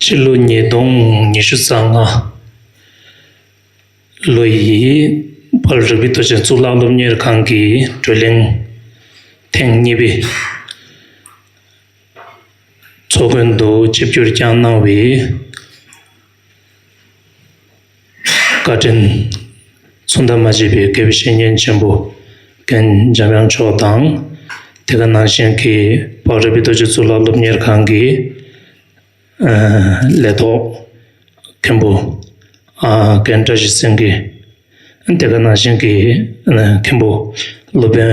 སྤྱི་ལོ་ཉིས་སྟོང་ཉི་ཤུ་རྩ་ལྔ་ལོ་ཡི་བར་རིགས་པའི་དུས་ཆེན་གཙུག་ལག་སློབ་གཉེར་ཁང་གི་བགྲོ་གླེང་ཐེངས་གཉིས་པའི་ཚོགས་ཀུན་ཏུ་ཆིབས་བསྒྱུར་བསྐྱངས་གནང་བའི་བཀའ་དྲིན། མཚུངས་ཟླ་མ་བརྗེས་པའི་དགེ་བའི་བཤེས་གཉེན་ཆེན་པོ་གན་འཇམ་དབྱངས་མཆོག་དང། དེ་ག་ནང་བཞིན་གྱི་བག་རེ་པའི་རྡོ་རྗེ་གཙུག་ལག་སློབ་གཉེར་ཁང་གི་ལས་ཐོག་མཁན་པོ་གན་བཀྲ་ཤིས་སེང་གེ། དེ་ག་ནང་བཞིན་གྱི་མཁན་པོ་སློབ་དཔོན།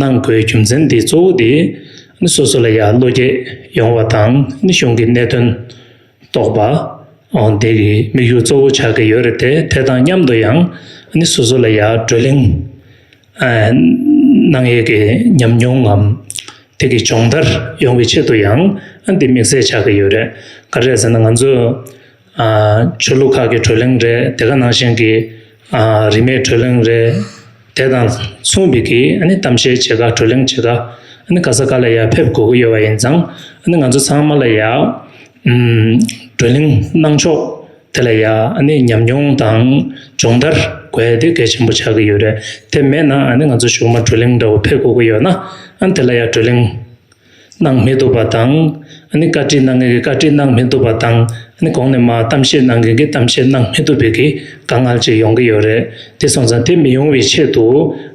ནང་སྒོས་རྒྱུ་མཚན་འདི་གཙོ་བོ་དེ་ནི་སོ་སོ་ལ་ཡར་བློ་སྐྱེད་ཡོང་བ་དང་ནི་གཞུང་གི་གནད་དོན་རྟོགས་པ། དེ་གི་དམིགས་ཡུལ་གཙོ་བོ་ཆགས་ཀྱི་ཡོད་རེད་དེ་དེ་དང་མཉམ་དུ་ཡང་ནི་སོ་སོ་ལ་ཡར་བགྲོ་གླེང། ནང་ཡས་ཀྱི་ཉམས་མྱོང་ངམ་དེ་གི་སྦྱོང་བརྡར་ཡོང་བའི་ཆེད་དུ་ཡང་འདི་དམིགས་བསལ་ཆགས་ཀྱི་ཡོད་རེད། ག་རེད་ཟེར་ན་ང་ཚོས་ཆོས་ལུགས་ཁག་གི་གྲོས་གླེང་རེད་དེ་ག་ནང་བཞིན་གྱི་རིས་མེད་གྲོས་གླེང་རེད་དེ་དང་མཚུངས་པའི་གི་གཏམ་བཤད་བྱེད་དགའ་གྲོས་གླེང་བྱེད་དགའ་ག་ས་ག་ལ་ཡང་ཕེབས་དགོས་ཀྱི་ཡོད་པ་ཡིན་ཙང་ང་ཚོ་ཚང་མ་ལ་ཡང་གྲོས་གླེང་གནང་ཕྱོགས་དེ་ལ་ཡང་ཉམས་མྱོང་དང་སྦྱོང་བརྡར་དགོས་དེ་གལ་ཆེན་པོ་ཆགས་ཀྱི་ཡོད་རེད་དེ་མེད་ན་ང་ཚོ་གཞུག་མ་གྲོས་གླེང་འདྲ་བོ་ཕེབས་དགོས་ཀྱི་ཡོད་ན་དེ་ལ་ཡང་གྲོས་གླེང་གནང་མི་ཐུབ་པ་དང། བཀའ་ཁྲི་གནང་མཁན་གྱིས་བཀའ་ཁྲི་གནང་མི་ཐུབ་པ་དང། གོང་ནས་མ་གཏམ་བཤད་གནང་མཁན་གྱིས་གཏམ་བཤད་གནང་མི་ཐུབ་པའི་གི་དཀའ་ངལ་ཅིག་ཡོང་གི་ཡོད་རེད། དེ་སོང་ཙང་དེ་མི་ཡོང་བའི་ཆེད་དུ་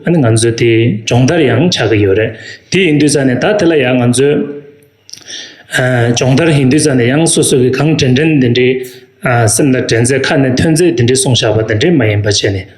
ང་ཚོས་དེ་སྦྱོང་བརྡར་ཡང་བྱ་གི་ཡོད་རེད། དེ་ཡིན་དུས་ཙང་ནས་ད་དེ་ལ་ཡང་ང་ཚོས་སྦྱོང་བརྡར་ཡིན་དུས་ཙང་ནས་ཡང་སོ་སོ་གིས་གང་དྲན་དྲན་དེ་འདྲའི་སེམས་ལ་དྲན་ཚད་ཁ་ནས་ཐོན་ཚད་དེ་འདྲའི་གསུང་བཞག་པ་དེ་འདྲའི་མ་ཡིན་པ་བྱས་ནས།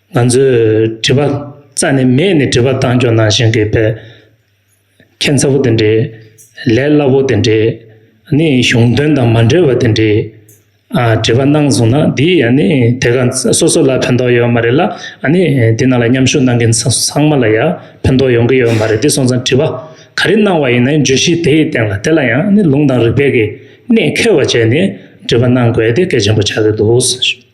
ང་ཚོས་དྲི་བ་རྩ་ནས་མེད་ནས་དྲི་བ་བཏང་ཆོག་ནང་བཞིན་གྱི་བལ། ཁྱད་མཚར་བོ་དེ་འདྲས། ལས་སླ་བོ་དེ་འདྲས། ནི་གཞུང་དོན་དང་མ་འབྲེལ་བ་དེ་འདྲས། ཨ་དྲི་བ་གནང་སོང་ན་འདི་ཡི་ཨ་ནི་དེ་ག་སོ་སོ་ལ་ཕན་ཐོག་ཡོད་མ་རེད་ལ་ཨ་ནི་འདི་ནང་ལ་མཉམ་ཞུགས་གནང་མཁན་ཚང་མ་ལ་ཡ་ཕན་ཐོག་ཡོང་གི་ཡོད་མ་རེད་དེ་སོང་ཙང་དྲི་བ་ག་རེ་གནང་བ་ཡིན་ན་བརྗོད་གཞི་དེ་ཡི་སྟེང་ལ་དེ་ལ་ཡང་ཨ་ནི་ལུང་དང་རིགས་པས་གི་གནད་འཁེལ་བ་བྱས་ནས་དྲི་བ་གནང་དགོས་དེ་གལ་ཆེན་པོ་ཆགས་ཀྱི་འདུག།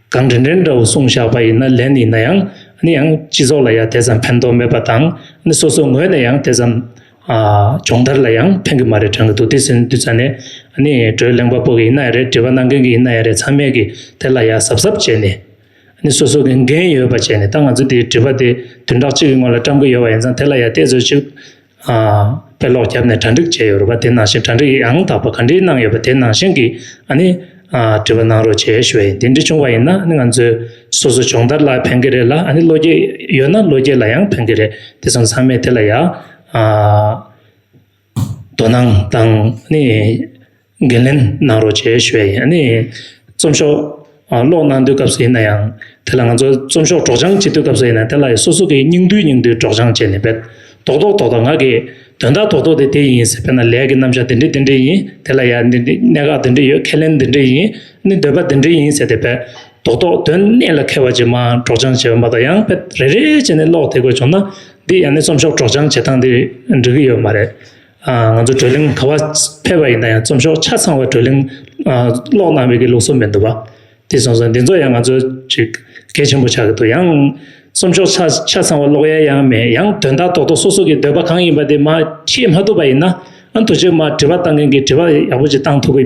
གང་དྲན་དྲན་འདྲ་བོ་གསུངས་བཞག་པ་ཡིན་ན་ལན་ཡིན་ན་ཡང་ནི་ཡང་སྤྱི་ཚོགས་ལ་ཡང་དེ་ཙམ་ཕན་ཐོགས་མེད་པ་དང་ནི་སོ་སོ་ངོས་ནས་ཡང་དེ་ཙམ་སྦྱོང་བརྡར་ལ་ཡང་ཕན་གི་མ་རེད་དྲན་གི་འདུག་དེ་ཟིན་དུས་ཚོད་ནི་ནི་བགྲོས་གླེང་པ་པོ་གི་ཡིན་ན་ཡང་རེད་འདྲི་བ་གནང་མཁན་གི་ཡིན་ན་ཡང་རེད་ཚང་མས་གི་དེ་ལ་ཡང་གཟབ་གཟབ་བྱས་ནས་ནི་སོ་སོ་གི་འགན་ཡོད་པ་བྱས་ནས་ད་ང་ཚོ་དེ་དྲི་བ་དེ་དུས་འདྲག་ཅིག་གི་སྔོན་ལ་བཀྲམ་གི་ཡོད་པ་ཡིན་ཙང་དེ་ལ་ཡང་བལྟས་ཚོད་ཅིག་དཔེ་ཀློག་བརྒྱབ་ནས་གྲ་འགྲིག་བྱས་ཡོད་རེད་པ་དེ་ནང་བཞིན་གྲ་འགྲིག་ཡང་དག་པ་ག་འདྲིའི་གནང་ཡོད་པ་དེ་ནང་བཞིན་གྱི་ཨ་ནི་དྲི་བ་གནང་རོགས་བྱས་ཞུ་བ་ཡིན་དེ་འདྲི་བྱུང་བ་ཡིན་ན་ཨ་ནི་ང་ཚོའི་སོ་སོ་སྦྱོང་བརྡར་ལ་ཕན་གྱི་རེད་ལ་ཨ་ནི་བློ་སྐྱེད་ཡོད་ན་བློ་སྐྱེད་ལ་ཡང་ཕན་གྱི་རེད་དེ་ཚོ་ཚང་མས་དེ་ལ་ཡང་དོ་སྣང་དང་ཨ་ནི། འགན་ལེན་གནང་རོགས་ཞེས་ཞུ་བ་ཡིན། རྩོམ་ཤོག་ཀློག་གནང་དུས་སྐབས་སུ་ཡིན་ན་ཡང་དེ་ལ་ང་ཚོ་རྩོམ་ཤོག་སྒྲོག་སྦྱང་བྱེད་དུས་སྐབས་སུ་ཡིན་ན་དེ་ལ་སོ་སོ་གིས་སྙིང་བསྡུས་སྙིང་བསྡུས་སྒྲོག་སྦྱང་བྱས་ནས་འབད། དོགས་དོགས་དོགས་དོགས་ང་གིས་དོན་དག་དོགས་དོགས་དེ་དེ་ཡིན་ཟེར་བས་ན་ལས་ཀྱི་རྣམ་གཞག་འདི་འདྲི་འདི་འདྲི་ཡིན་དེ་ལ་ཡང་འདི་འདྲི་གནད་འགག་འདི་འདྲི་ཡོད་ཁས་ལེན་འདི་འདྲི་ཡིན་ནི་འདོད་པ་འདི་འདྲི་ཡིན་ཟེར་ཏེ་འབད། དོགས་དོགས་དོན་གནད་ལ་ཁེལ་བ་ཅིག་མ་སྒྲོག་སྦྱང་བྱས་པ་མ་གཏོགས་ཡང་འབད་རེ་རེ་བྱས་ནས་ཀློག་དེ་དགོས་བྱུང་ན་འདི་ཡང་ནི་རྩོམ་ཤོག་སྒྲོག་སྦྱང་བྱེད་སྟངས་འདི་འགྲིག་གི་ཡོད་མ་རེད། ང་ཚོ་བགྲོ་གླེང་ག་བ་ཕེབས་པ་ཡིན་ན་ཡང་རྩོམ་ཤོག་ཆ་ཚང་བ་བགྲོ་གླེང་ཀློག་གནང་བའི་ལུགས་སྲོལ་མི་འདུག་པ་དེ་གསུངས་སོང་འདི་ཚོ་ཡང་ང་ཚོ་ཅིག་གལ་ཆེན་པོ་ཆགས་ཀྱི་འདུག་ཡང་རྩོམ་ཤོག་ཆ་ཆ་ཚང་བ་ཀློག་ཡས་ཡང་མེད་ཡང་དོན་དག་ཏོག་ཏོག་སོ་སོ་གི་འདོད་པ་གང་ཡིན་པ་དེ་མ་ཤེས་མ་ཐུབ་པ་ཡིན་ན་ཨ་མདོ་རྗེས་མར་དྲི་བ་བཏང་མཁན་གྱིས་དྲི་བ་ཡག་པོ་ཅིག་བཏང་ཐུབ་ཀྱི་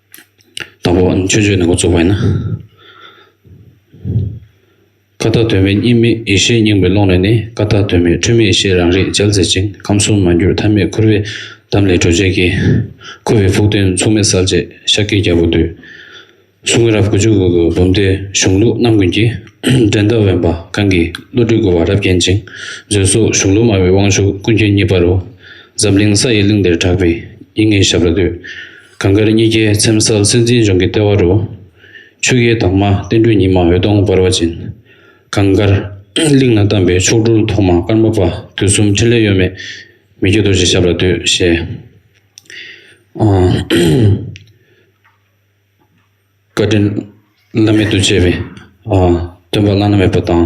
དང་པོ་མཆོད་བརྗོད་ནས་འགོ་བཙུགས་པ་ཡིན་ན། ཀ་དག་དོན་མེད་གཉིས་མེད་ཡེ་ཤེས་སྙིང་པོའི་ཀློང་ནས་ནི་ཀ་དག་དོན་མེད་འཁྲུལ་མེད་ཡེ་ཤེས་རང་རིག་རྒྱལ་མཛད་ཅིང་ཁམས་གསུམ་མ་འགྱུར་མཐའ་མེད་ཁུར་བའི་གདམས་ལས་གྲོལ་བྱེད་ཀྱི། ཁུ་བའི་ཕུག་སྟོན་མཚུངས་མེད་གསལ་བྱེད་ཤཱཀྱའི་རྒྱལ་པོ་འདུས། གསུང་རབ་དགུ་བཅུ་དགུ་དགུ་འབུམ་སྡེའི་གཞུང་ལུགས་རྣམ་ཀུན་གྱི། འགྲན་ཟླ་དབེན་པ་གང་གིས་བློ་གྲོས་སྒུལ་བ་རབ་བརྒྱན་ཅིང་མཛོད་སོགས་གཞུང་ལུགས་སྨྲ་བའི་དབང་ཕྱུག་ཀུན་མཁྱེན་གཉིས་པ་རུ། ཛམ་གླིང་ས་ཡི་གླིང་འདིར་གྲགས་པའི་ཡིད་ངེས་ཞབས་ལ་འདུད། གངས་དཀར་གཉིས་ཀའི་ཚེམ་བསལ་སེམས་ཅན་ལྗོངས་ཀྱི་ལྟེ་བ་རུ། ཆུ་ཡི་དྭངས་མ་བསྟན་འགྲོའི་ཉི་མ་འོད་སྟོང་འབར་བ་བཞིན། གངས་དཀར། གླིང་ལ་གཏམས་པའི་མཆོག་སྤྲུལ་ཐོག་མ་ཀརྨ་པ་དུས་གསུམ་འཕྲིན་ལས་གཡོ་མེད་མི་བསྐྱོད་རྡོ་རྗེ་ཞབས་ལ་འདུད། ཞེས། བཀའ་དྲིན་བླ་མེད་དུ་ཆེ་བའི། སྟོན་པ་བླ་ན་མེད་པ་དང།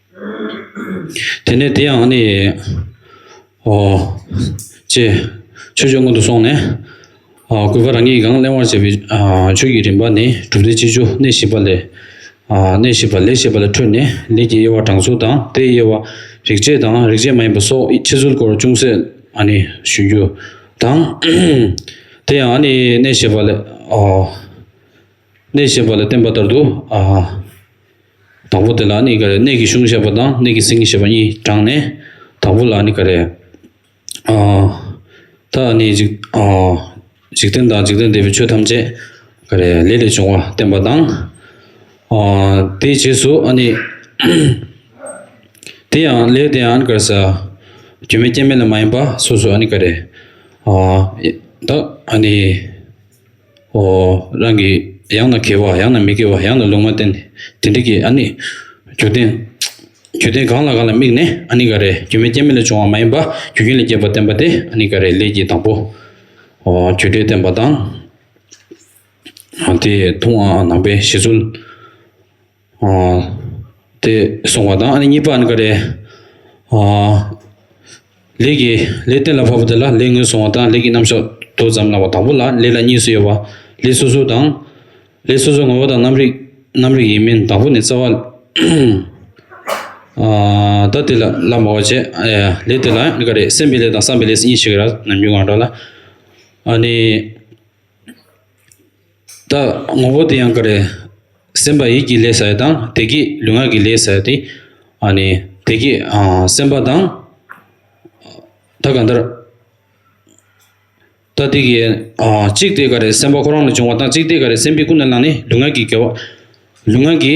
དེ་ནས་དེ་ཡང་ནི། ཧོ། ཅེས་ཆོས་སྤྱོད་སྔོན་དུ་སོང་ནས། གུས་པ་རང་ཉིད་ཀྱང་གླེང་བར་བྱེད་པའི་ཆོས་ཀྱི་རིམ་པ་ནི་གྲུབ་སྟེ་ཅི་བྱུ་གནས་བཞི་པ་ལས། གནས་བཞི་པ་ལས་ཞེས་པ་ལས་འཕྲོས་ནས་ལས་ཀྱི་དབྱེ་བ་དྲང་ཚུལ་དང་དེའི་དབྱེ་བ་རིག་བྱེད་དང་རིག་བྱེད་མ་ཡིན་པ་སོགས་ཕྱི་ཚུལ་སྐོར་ཅུང་ཟད་ནི་ཞུ་རྒྱུ་དང། དེ་ཡང་ནི་གནས་བཞི་པ་ལས། གནས་ཞེས་པ་ལ་བརྟེན་པ་ལྟར་དུ། དང་པོ་དེ་ལ་ནི་ག་རེ་གནས་ཀྱི་གཞུང་ཞེས་པ་དང་གནས་ཀྱི་ཟིན་ཞེས་པ་གཉིས་དྲངས་ནས། དང་པོ་ལ་ནི་ག་རེ། ད་ནི་འཇིག་རྟེན་དང་འཇིག་རྟེན་འདས་པའི་ཆོས་ཐམས་ཅད་ག་རེ་ལས་ལས་བྱུང་བ་བསྟན་པ་དང། དེའི་རྗེས་སུ་ནི། དེ་ཡང་ལས་དེ་ཡང་ག་རེ་ས། སྒྱུ་མའི་སྐྱེ་མེད་ལས་མ་ཡིན་པ་སོ་སོ་ནི་ག་རེ། ད་ནི། ཨོ། རང་གིས་ཡང་ན་དགེ་བ་ཡང་ན་མི་དགེ་བ་ཡང་ན་ལུང་མ་བསྟན་ཏེ་དེ་འགྲིག་གི་ཨ་ནི། རྒྱུ་རྟེན། རྒྱུ་རྟེན་གང་ལ་གང་ལ་དམིགས་ནས་ཨ་ནི་ག་རེ་རྒྱུ་མེད་རྐྱེན་མེད་ལས་བྱུང་བ་མ་ཡིན་པ་རྒྱུ་རྐྱེན་ལས་སྐྱེས་པ་བསྟན་པ་དེ་ཨ་ནི་ག་རེ་ལས་ཀྱི་དང་པོ། ཨོ། རྒྱུ་འབྲས་བསྟན་པ་དང། དེ་ཐུང་ཨ་ནང་པའི་བཞེད་ཚུལ། དེ་གསུངས་པ་དང་ཨ་ནི་གཉིས་པ་ཨ་ནི་ཀ་རེ། ལས་ཀྱི་ལས་གཏན་ལ་ཕབ་པ་དེ་ལ་ལས་ངོས་བཟུང་བ་དང་ལས་ཀྱི་རྣམ་གཞག་དོ་ཙམ་སྣང་བ་དང་པོ་ལ་ལས་ལ་གཉིས་སུ་དབྱེ་བ་ལས་སོ་སོའི་དང། ལས་སོ་སོའི་ངོ་བོ་དང་རྣམ་རིག་རྣམ་རིག་ཡིན་མིན་དང་པོ་ནི་རྩ་བ། ད་དེ་ལ་ལ་མོ་བ་བྱེད་ལས་དེ་ལ་ཨ་ནི་ཀ་རེ་སེམས་པའི་ལས་དང་བསམ་པའི་ལས་སུ་གཉིས་ཤེས་གི་ར་ནམ་རྒྱུན་གང་འདྲ་ལ་ཨ་ནི། ད་ངོ་བོ་དེ་ཡང་ག་རེ། སེམས་པ་ཡིད་ཀྱི་ལས་བྱ་ཡི་དང་བདེ་སྐྱིད་ལུས་ངག་གི་ལས་བྱ་ཡི། བདེ་སྐྱིད་སེམས་པ་དང། ད་གང་ལྟར། ད་དེ་གའི་གཅིག་དེ་ག་རེ་སེམས་པ་ཁོ་རང་ལ་འབྱུང་བ་དང་གཅིག་དེ་ག་རེ་སེམས་པས་ཀུན་ནས་བསླངས་ནས་ལུས་ངག་གི་དགེ་བ་ལུས་ངག་གི།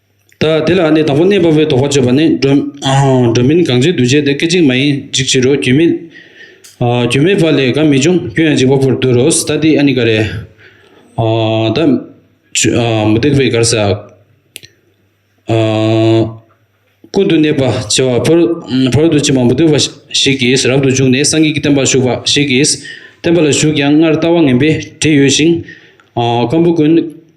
ལྟ། དེ་ལ་ནི་དང་པོ་གནས་པ་པོའི་དོགས་པ་གཅོད་པ་ནི། སྒྲོན་མིན་གང་ཚེ་འདུ་བྱེད་དེ་སྐད་ཅིག་མ་ཡིན་འཇིག་བྱེད་རོ། རྒྱུན་མེད་རྒྱུན་མེད་པ་ལས་དགའ་མི་འབྱུང་སྐྱོན་ཡང་འཇིག་པ་པོར་འདོད་རོ། ལྟ་སྟེ་ཨ་ནི་ཀ་རེ། ལྟ། མུ་སྟེགས་པའི་གར་ཟག། ཀུན་ཏུ་གནས་པ་བྱེ་བ་ཕོ་རོག་ཏུ་ཕྱིན་པ་མུ་སྟེགས་པ་ཞིག་གིས་རབ་ཏུ་བྱུགས་ནས་སངས་རྒྱས་ཀྱི་བསྟན་པར་ཞུགས་པ་ཞིག་གིས་བསྟན་པ་ལ་ཞུགས་ཀྱང་སྔར་ལྟ་བ་ངན་པས་བྲིད་ཡོད་ཅིང། སྐམ་པོ་ཀུན།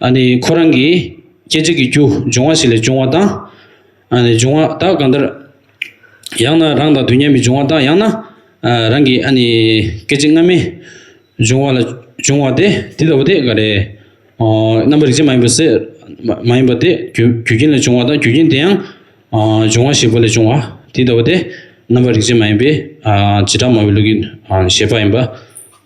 ཨ་ནི་ཁོ་རང་གིས་སྐྱེ་འཇིག་གི་རྒྱུ་འབྱུང་བ་ཞིག་ལས་བྱུང་བ་དང། ཨ་ནི་འབྱུང་བ་དག་གང་ལྟར། ཡང་ན་རང་དང་དུས་མཉམ་པའི་འབྱུང་བ་དག་ཡང་ན། རང་གི་ཨ་ནི་སྐད་ཅིག་སྔ་མའི་འབྱུང་བ་ལ་འབྱུང་བ་སྟེ་དེ་ལྟ་བུ་དེ་ག་རེ། རྣམ་པར་རིག་བྱེད་མ་ཡིན་པ་སེལ། མ་ཡིན་པ་སྟེ་རྒྱུ་རྐྱེན་ལས་བྱུང་བ་དང་རྒྱུ་རྐྱེན་དེ་ཡང། འབྱུང་བ་ཞེས་པ་ལས་བྱུང་བ་དེ་ལྟ་བུ་སྟེ་རྣམ་པར་རིག་བྱེད་མ་ཡིན་པས་བྱེ་བྲག་སྨྲ་བའི་ལུགས་ཀྱི་བཞེད་པ་ཡིན་པ།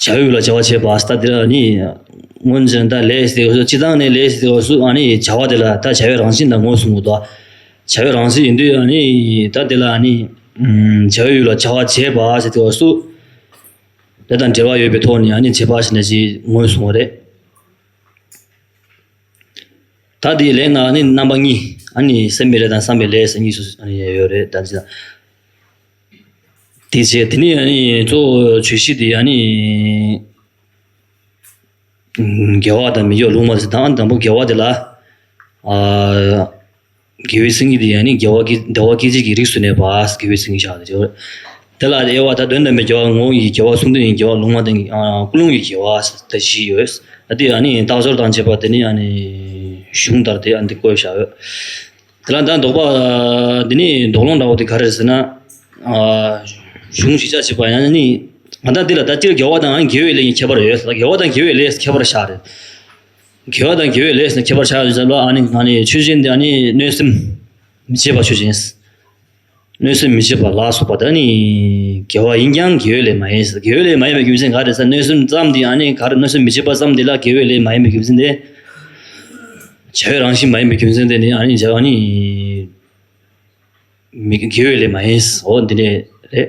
བྱ་ཡུལ་ལ་བྱ་བ་བྱེད་པ་སྟ་དེ་ལ་ནི། སྔོན་བྱོན་ད་ལས་སྟེ་སུ་སྤྱི་དང་ནི་ལས་སྟེ་སུ་ནི་བྱ་བ་དེ་ལ་ད་བྱ་བའི་རང་བཞིན་དང་ངོས་བཟུང་ངོ། བྱ་བའི་རང་བཞིན་ཡིན་དུས་ནི་ད་དེ་ལ་ནི། བྱ་ཡུལ་ལ་བྱ་བ་བྱེད་པ་ཞེས་སྟེ་སུ། དེ་དང་འབྲེལ་བ་ཡོད་པའི་ཐོག་ནས་ནི་བྱེད་པ་ཞེས་ནས་ཞེས་ངོས་བཟུང་བ་རེད། ད་དེའི་ལན་ནང་ནི་རྣམ་པ་གཉིས་ནི་སེམས་པའི་ལས་དང་བསམ་པའི་ལས་གཉིས་སུ་ཡོད་རེད་ད། དེ་བྱས་དེ་ནས་ཡང་ནི་གཙོ་བོ་ཆོས་ཤིག་དེ་ཡང་ནི་དགེ་བ་དང་མི་དགེ་བ་ལུང་མ་ཟིན་དང་དང་པོ་དགེ་བ་དེ་ལ་དགེ་བའི་སེམས་ཀྱིས་དེ་ཡང་ནི་དགེ་བ་སྐྱེ་བདེ་བ་སྐྱེད་བྱེད་ཀྱི་རིགས་སུ་གནས་པ་དགེ་བའི་སེམས་ཀྱིས་བྱ་སྟེ་དེ་ལ་དབྱེ་བ་ད་དོན་དམ་པའི་དགེ་བ་ངོ་བོ་ཉིད་ཀྱི་དགེ་བ་གསུམ་དོན་ཡིན་དགེ་བ་ལུང་མ་བསྟན་གྱི་ཀུན་སློང་གི་དགེ་བ་ད་བཞི་ཡོད་དེ་ཡང་ནི་རྟག་སྦྱོར་དང་བཅས་པ་དེ་ནི་ཡང་ནི་གཞུང་ལྟར་དེ་ཡང་འདི་བཀོད་བྱ་འོས། དེ་ལ་ད་འདོགས་པ། འདི་ནི་འདོགས་སློང་འདྲ་བོ་དེ་ག་རེད་ཟེར་ན། གཞུང་ཞིག་ཆགས་ཞེས་པ་ཡང་ནི། ང་དང་འདི་ལ་ད་སྤྱིར་དགེ་བ་དང་དགེ་བའི་ལས་གཉིས་ཁྱད་པར་ཡོད་ཟེར་ན་དགེ་བ་དང་དགེ་བའི་ལས་ཁྱད་པར་ཆགས་རེད། དགེ་བ་དང་དགེ་བའི་ལས་ཟེར་ན་ཁྱད་པར་ཆགས་ཡོད་ཟེར་ན་ལ་ཨ་ནི་ང་ནི་ཆོས་ཅན་འདི་ཨ་ནི་གནོད་སེམས་མི་བྱེད་པ་ཆོས་ཅན། གནོད་སེམས་མི་བྱེད་པ་ལ་སོགས་པ་དག་ནི་དགེ་བ་ཡིན་ཀྱང་དགེ་བའི་ལས་མ་ཡིན། དགེ་བའི་ལས་མ་ཡིན་པའི་རྒྱུ་མཚན་ག་རེ་ས་གནོད་སེམས་ཙམ་དེ་ཡང་ནི་ག་རེ་གནོད་སེམས་མི་བྱེད་པ་ཙམ་དེ་ལ་དགེ་བའི་ལས་མ་ཡིན་པའི་རྒྱུ་མཚན་ཏེ། བྱ་བའི་རང་བཞིན་མ་ཡིན་པའི་རྒྱུ་མཚན་དེ་ནི་ཡང་ནི་བྱ་བ་ནི་མི་དགེ་བའི་ལས་མ་ཡིན། འོ་འདི་ནས་རེད།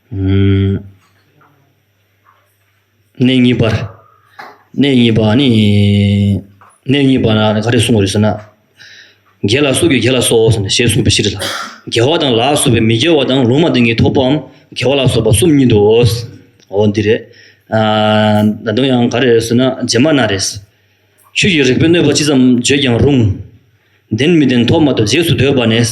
གནས་གཉིས་པར། གནས་གཉིས་པ་ནི། གནས་གཉིས་པ་ན་ག་རེ་གསུངས་པར་ཟེར་ན། དགེ་ལ་སོགས་ཀྱི་དགེ་ལ་སོགས་ཞེས་གསུངས་པའི་ཕྱིར་ལ། དགེ་བ་དང་ལ་སོགས་པའི་མི་དགེ་བ་དང་ལུང་མ་བསྟན་གྱི་ཐོབ་པའམ་དགེ་བ་ལ་སོགས་པ་གསུམ་ཉིད་དོ། འོ་འདི་རེད། ད་དུང་ཡང་ག་རེ་ཟེར་ན་རྗེས་མ་ན་རེ། ཆོས་ཀྱི་རིགས་པས་གནོད་པ་ཅི་ཙམ་བརྗོད་ཀྱང་རུང། བདེན་མི་བདེན་ཐོབ་མ་ཐོབ་རྗེས་སུ་ཟློས་པ་ནས།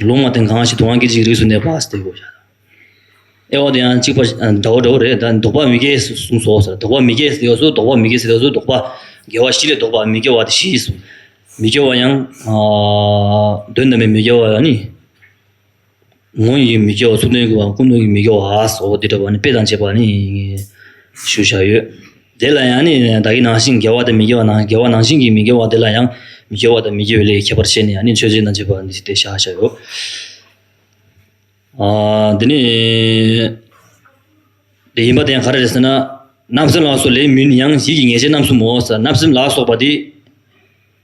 ལུང་མ་བསྟན་གང་ཞིག་དུང་བ་སྐད་ཅིག་རིགས་སུ་གནས་པ་སྟེ་གོ། ཨེ་ཨོ་དེ་ཡང་གཅིག་པ་འདྲ་བོ་འདྲ་བོ་རེད་ད་འདོགས་པ་མི་དགེ་གསུངས་སོ་ཟེར་འདོགས་པ་མི་དགེ་ཟེར་སོ་འདོགས་པ་མི་དགེ་ཟེར་སོ་འདོགས་པ་དགེ་བ་བཞི་ལས་འདོགས་པ་མི་དགེ་བ་དེ་བཞི་ཟེར། མི་དགེ་བ་ཡང་དོན་དམ་པའི་མི་དགེ་བ་ནི། ངོ་ཡི་མི་དགེ་བ་ཚུར་སྟོན་དགེ་བ་ཀུན་སྟོན་གྱི་མི་དགེ་བ་ཟོ་དེ་འདྲ་བ་ནི་དཔེ་དང་བཅས་པ་ནི་ཞུ་བཞག་ཡོད། དེ་ལ་ཡང་ནི་བདག་གི་ནང་བཞིན་དགེ་བ་དང་མི་དགེ་བ་ནང་དགེ་བ་ནང་བཞིན་གྱིས་མི་དགེ་བ་དེ་ལ་ཡང་མི་དགེ་བ་དང་མི་དགེ་བའི་ལས་ཀྱི་ཁྱད་པར་བཤད་ནས་ཡང་ནི་མཆོད་སྦྱིན་དང་བཅས་པ་འདི་སྟེ་བྱ་བྱ་བའོ། འདི་ནི་ལས་ཡིན་པ་དེ་ཡང་ག་རེ་རེད་ཟེར་ན། རྣམ་སྨིན་ལ་སོགས་ལས་མིན་ཡང་གཞིག་གི་ངེས་ཤེས་རྣམ་གསུམ་མོ་ཟེར་རྣམ་སྨིན་ལ་སོགས་པ་དེ་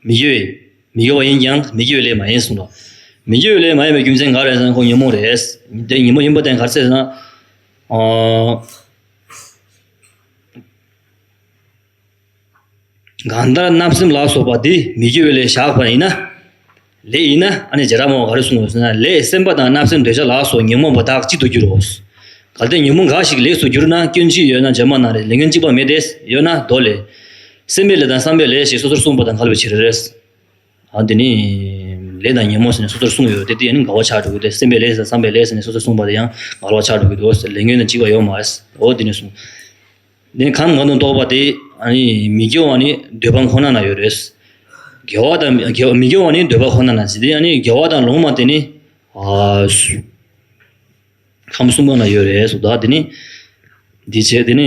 མི་དགེ་བའི་མི་དགེ་བ་ཡིན་ཀྱང་མི་དགེ་བའི་ལས་མ་ཡིན་གསུངས་པ། མི་དགེ་བའི་ལས་མ་ཡིན་པའི་རྒྱུ་མཚན་ག་རེ་ཟེར་ན་ཁོང་ཉོན་མོངས་རེད། དེ་ཉོན་མོངས་ཡིན་པ་དེ་ག་རེ་ཟེར་ན། གང་ལྟར་རྣམ་སེམས་ལ་སོགས་པ་འདི་མི་སྐྱེ་བའི་ལས་བཞག་པ་ཡིན་ན། ལས་ཡིན་ན་ཨ་ནི་ཇེ་ར་མོ་ག་རེ་གསུངས་པ་ཟེར་ན་ལས་སེམས་པ་དང་རྣམ་སེམས་འདོད་ཆགས་ལ་སོགས་ཉོན་མོངས་པ་དག་གཅིག་ཏུ་འགྱུར་རོ། གལ་ཏེ་ཉོན་མོངས་འགའ་ཞིག་ལས་སུ་གྱུར་ན་སྐྱོན་གཅིག་ཡོད་ན་རྗེས་མ་ན་རེ་ལས་སྐྱོན་གཅིག་པ་མེད་དེ་ཡོད་ན་མདོ་ལས། སེམས་པའི་ལས་དང་བསམ་པའི་ལས་ཞེས་སོ་སོར་གསུངས་པ་དང་འགལ་བའི་ཕྱིར། འདི་ནི་ལས་དང་ཉིན་མོ་ཟེར་ནས་སོ་སོར་གསུངས་ཡོད་དེ་དེ་ཡང་ནི་དགའ་བ་ཆགས་འགྲོ་གི་སྟེ་སེམས་པའི་ལས་དང་བསམ་པའི་ལས་ཟེར་ནས་སོ་སོར་གསུངས་པ་དེ་ཡང་དགའ་བ་ཆགས་འགྲོ་གི་འདུག་ཟེར་ལས་ཉོན་ནི་འཇིགས་པ་ཡོད་མ་འོ་དེ་ནས་བཟུང་འདི་ནི་གང་གི་ངང་དུ་གཏོགས་པ་དེ་མི་སྐྱོ་བ་ནི་འདོད་པ་ཁོ་ན་ན་ཡོད་རེད། དགེ་བ་དང་མི་སྐྱོ་བ་ནི་འདོད་པ་ཁོ་ན་ན་ཟེར་དེ་ཡང་ནི་དགེ་བ་དང་ལོང་མ་དེ་ནི་ཁམས་གསུམ་པོ་ན་ཡོད་རེད་སོ་བདག་འདི་ནི་འདི་བྱེད་དེ་ནི།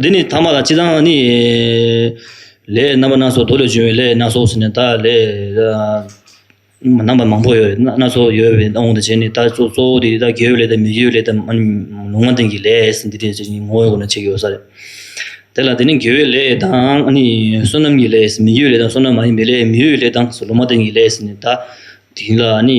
འདི་ནི་ཐ་མ་ལ་ཅི་དང་ནི། ལས་རྣམ་པ་སྣ་ཚོགས་དུག་ལས་བྱུང་བའི་ལས་སྣ་ཚོགས་སུ་ནི་དག་ལས། རྣམ་པ་མང་པོ་ཡོད་སྣ་ཚོགས་ཡོད་པའི་དབང་དུ་བྱས་ནས་ད་གཟོད་གཙོ་བོ་དེ་དག་དགེ་བའི་ལས་དང་མི་དགེ་བའི་ལས་དང། ལུང་མ་བསྟན་གྱི་ལས་འདི་དག་ཅེས་ངོ་བོའི་སྒོ་ནས་ཕྱེ་དགོས་ས་རེད། དེ་ལ་དེ་ནི་དགེ་བའི་ལས་དང་ནི་བསོད་ནམས་ཀྱི་ལས་མི་དགེ་བའི་ལས་དང་བསོད་ནམས་མ་ཡིན་པའི་ལས་མི་གཡོ་བའི་ལས་དང་ལུང་མ་བསྟན་གྱི་ལས་ནི་དག་དེ་ལ་ནི།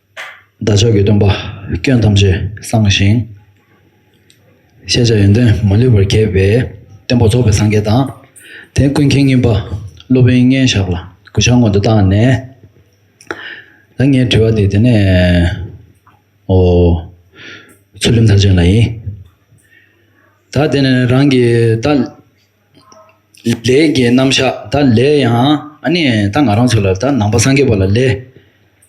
བདག་ཅག་གི་སྟོན་པ་སྐྱོན་ཐམས་ཅད་སངས་ཤིང། ཤེས་བྱ་ཡོན་ཏན་མ་ལུས་པར་རྒྱས་པའི་བསྟན་པ་རྫོགས་པའི་སངས་རྒྱས་དང། དེ་ཀུན་མཁྱེན་ངེས་པ་སློབ་དཔོན་མཉེན་བཤགས་ལ་གུས་ཕྱག་སྔོན་དུ་བཏང་ནས། ད་ངའི་དྲི་བ་འདི་དེ་ནས་འོ། ཚུལ་ཁྲིམས་མཐར་ཕྱིན་ལ་ཡིན། ད་དེ་ནས་རང་གིས་བདག། ལས་ཀྱི་རྣམ་གཞག་ད་ལས་ཡང་ད་ང་རང་ཚོ་ལ་ད་ནང་པ་སངས་རྒྱས་པ་ལ་ལས་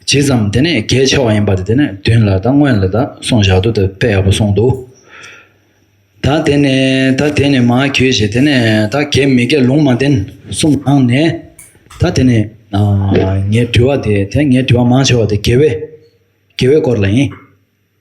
ཇི་ཙམ་དེ་ནས་གལ་ཆེ་བ་ཡིན་པ་དེ་ནས་བདུན་ལ་ད་སྔོན་ལ་ད་གསུང་བཞག་ཏུ་ད་དཔེ་ཡག་པོ་གསུང་འདུག་ད་དེ་ནས་ད་དེ་ནས་མ་གྱོས་ཞེས་དེ་ནས་ད་གལ་མི་གལ་ལུང་མ་བསྟན་གསུམ་ནང་ནས་ད་དེ་ནས་ངའི་དྲི་བ་དེ་དེ་ངའི་དྲི་བ་མང་ཆེ་བ་དེ་དགེ་བའི་དགེ་བའི་སྐོར་ལ་ཡིན།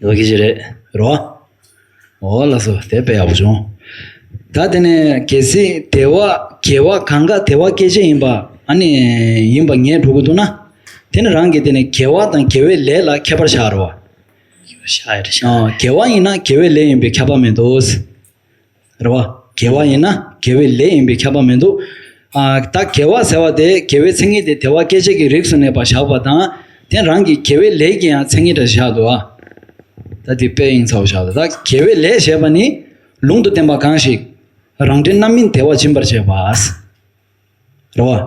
ལོ་གེ་བྱེད་རེད་རོ། འོ་ལགས་སོ་དེ་དཔེ་ཡག་པོ་བྱུང། ད་དེ་ནས་གལ་སྲིད་དེ་བ་གལ་བ་གང་ག་དེ་བ་སྐད་ཆ་ཡིན་པ་ཨ་ནི་ཡིན་པ་ངས་སྒྲོག་གི་འདུག་ན། དེ་ནི་རང་གི་དེ་ནི་གལ་བ་དང་གལ་བའི་ལས་ལ་ཁྱད་པར་ཤར་རོ། ཤར་ཤར། གལ་བ་ཡིན་ན་གལ་བའི་ལས་ཡིན་པའི་ཁྱད་པར་མེད་དོ། རེ་བ། དགེ་བ་ཡིན་ན་དགེ་བའི་ལས་ཡིན་པས་ཁྱབ་པ་མི་འདུག། ད་དགེ་བ་ཟེར་བ་དེ་དགེ་བའི་མཚན་ཉིད་དེ་དེ་བ་སྐད་ཅིག་གི་རིགས་སུ་གནས་པར་བཞག་པ་དང། དེ་རང་གི་དགེ་བའི་ལས་ཀྱི་ཡང་མཚན་ཉིད་འདྲ་ཞིག་བཞག་འདུག་ཨ། ད་དེ་དཔེ་ཡིན་ཚོགས་བཞག་ལ་ད་དགེ་བའི་ལས་ཞེས་པ་ནི། ལུང་དུ་བསྟན་པ་གང་ཞིག། རང་འབྲས་རྣམ་སྨིན་དེ་བ་སྦྱིན་པར་བྱེད་པ། རེ་བ།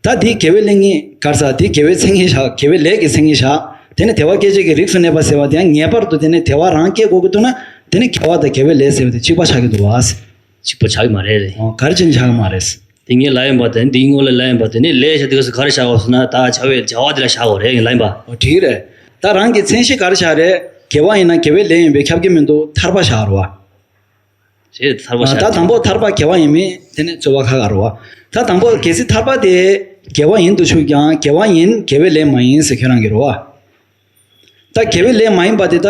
ད་འདིའི་དགེ་བའི་གླིང་གཉིས་བགར་ས་འདིའི་དགེ་བའི་མཚན་ཉིད་བཞག་དགེ་བའི་ལས་ཀྱི་མཚན་ཉིད་བཞག་དེ་ནི་དལ་བ་སྐད་ཅིག་གིས་རིགས་སུ་གནས་པ་ཟེར་བ་དེ་ཡང་ངེས་པར་དུ་དེ་ནི་དལ་བ་རང་སྐྱེ་དགོས་ཀྱི་འདུག་ན་དེ་ནི་དགེ་བ་དང་དགེ་བའི་ལས་ཟེར་བ་དེ་གཅིག་པ་ཆགས་ཀྱི་འདུག་བ། གཅིག་པ་ཆགས་ཀྱི་མ་རེད། ཨོ་གར་གཅིག་ནི་ཆགས་ཀྱི་མ་རེད། དེ་ངའི་ལག་ཡིན་པ་དེ་ནི་འདིའི་སྔོན་ལ་ལག་ཡིན་པ་དེ་ནི་ལས་བྱ་དུས་ག་སུ་གར་བཞག་གོ་ཟེར་ན་ད་བྱ་བའི་བྱ་བ་དེ་ལ་བཞག་གོ་རེད་ངའི་ལག་ཡིན་པ། ཨོ་དེ་རེད། ད་རང་གི་མཚན་གཞི་གར་བཞག་རེད་དགེ་བ་ཡིན་ན་དགེ་བའི་ལས་ཡིན་པས་ཁྱབ་ཀྱི་མི་འདུག་ཐར་པ་བཞག་རེ་བ། ད་དང་པོ་ཐར་པ་དགེ་བ་ཡིན་མིན་དེ་ནི་རྩོད་པ་ཁ་ཁ་རོ། ད་དང་པོ་གལ་སྲིད་ཐར་པ་དེ་དགེ་བ་ཡིན་དུ་ཆུག་ཀྱང་དགེ་བ་ཡིན་དགེ་བའི་ལས་མ་ཡིན་ཟེར་ཁྱོད་རང་གིས་རོ། ད་དགེ་བའི་ལས་མ་ཡིན་པ་དེ་ད་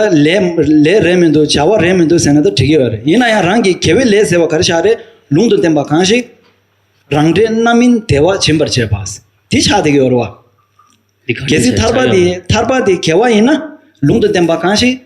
ལས་རེད་མི་འདུག་བྱ་བ་རེད་མི་འདུག་ཟེར་ན་ད་དྲི་གི་ཡོད་རེད་ཡིན་ན་ཡང་རང་གིས་དགེ་བའི་ལས་ཟེར་བ་ག་རེ་ཤ་རེད་ལུང་དུ་བསྟན་པ་གང་ཞིག་རང་འབྲས་རྣམ་སྨིན་བདེ་བ་སྦྱིན་པར་བྱེད་པ། དེ་ཆགས་བསྡད་ཀྱི་ཡོད་རེད་བ། གལ་སྲིད་ཐར་པ་དེ་དགེ་བ་ཡིན་ན་ལུང་དུ་བསྟན་པ་གང་ཞིག།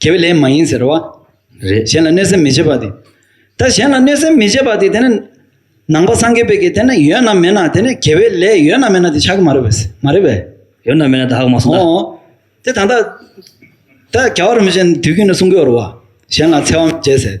དགེ་བའི་ལས་མ་ཡིན་ཟེར་བ་རེད། གཞན་ལ་གནོད་སེམས་མི་བྱེད་པ་དེ། ད་གཞན་ལ་གནོད་སེམས་མི་བྱེད་པ་དེ་དེ་ནི། ནང་པ་སངས་རྒྱས་པའི་གེགས་དེ་ནི་ཡོད་ན་མེད་ན་དེ་ནི་དགེ་བའི་ལས་ཡོད་ན་མེད་ན་དེ་ཆགས་ཀྱི་མ་རེད་པས། མ་རེད་པས། ཡོད་ན་མེད་ན་དག་མ་སོང་ད། དེ་ད་ལྟ། ད་ག་བ་རིན་པོ་ཆེ་དུས་རྒྱུན་ནས་གསུང་གི་ཡོད་རེད་བ། གཞན་ལ་འཚེ་བ་མི་བྱེད་ཟེར།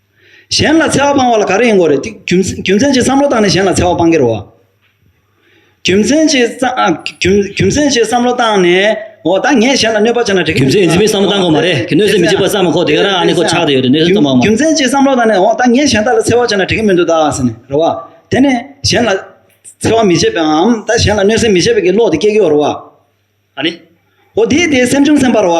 གཞན་ལ་འཚེ་བ་སྤང་བ་ལ་ག་རེ་ཡིན་དགོས་རེད། རྒྱུ་མཚན་གྱིས་བསམ་བློ་བཏང་ནས་གཞན་ལ་འཚེ་བ་སྤང་གིར་འོ། རྒྱུ་མཚན་གྱིས། རྒྱུ་མཚན་གྱིས་བསམ་བློ་བཏང་ནས་འོ་ད་ངས་གཞན་ལ་གནོད་པ་བྱས་ན་འགྲིག་གི་རྒྱུ་མཚན་གྱིས་འཛིན་མི་བསམ་བློ་བཏང་དགོས་མ་རེད་གི་གནོད་སེམས་མི་བྱེད་པར་བསམ་མ་གོ་དེ་ག་རང་ཨ་ནི་ཁོ་ཆགས་ཏེ་ཡོད་རེད་གནོད་སེམས་བཏང་བ་མ། རྒྱུ་མཚན་གྱིས་བསམ་བློ་བཏང་ནས་འོ་ད་ངས་གཞན་དག་ལ་འཚེ་བ་བྱས་ན་འགྲིག་གི་མི་འདུག་ད་ཟེར་ནས་རེད་བ། དེ་ནས་གཞན་ལ་འཚེ་བ་མི་བྱེད་པའམ་ད་གཞན་ལ་གནོད་སེམས་མི་བྱེད་པའི་གི་བློ་དེ་སྐྱེ་གི་འོ་རེད་བ། ཨ་ནི། འོ་དེས་དེའི་སེམས་བྱུང་སེམས་པ་རེད་བ།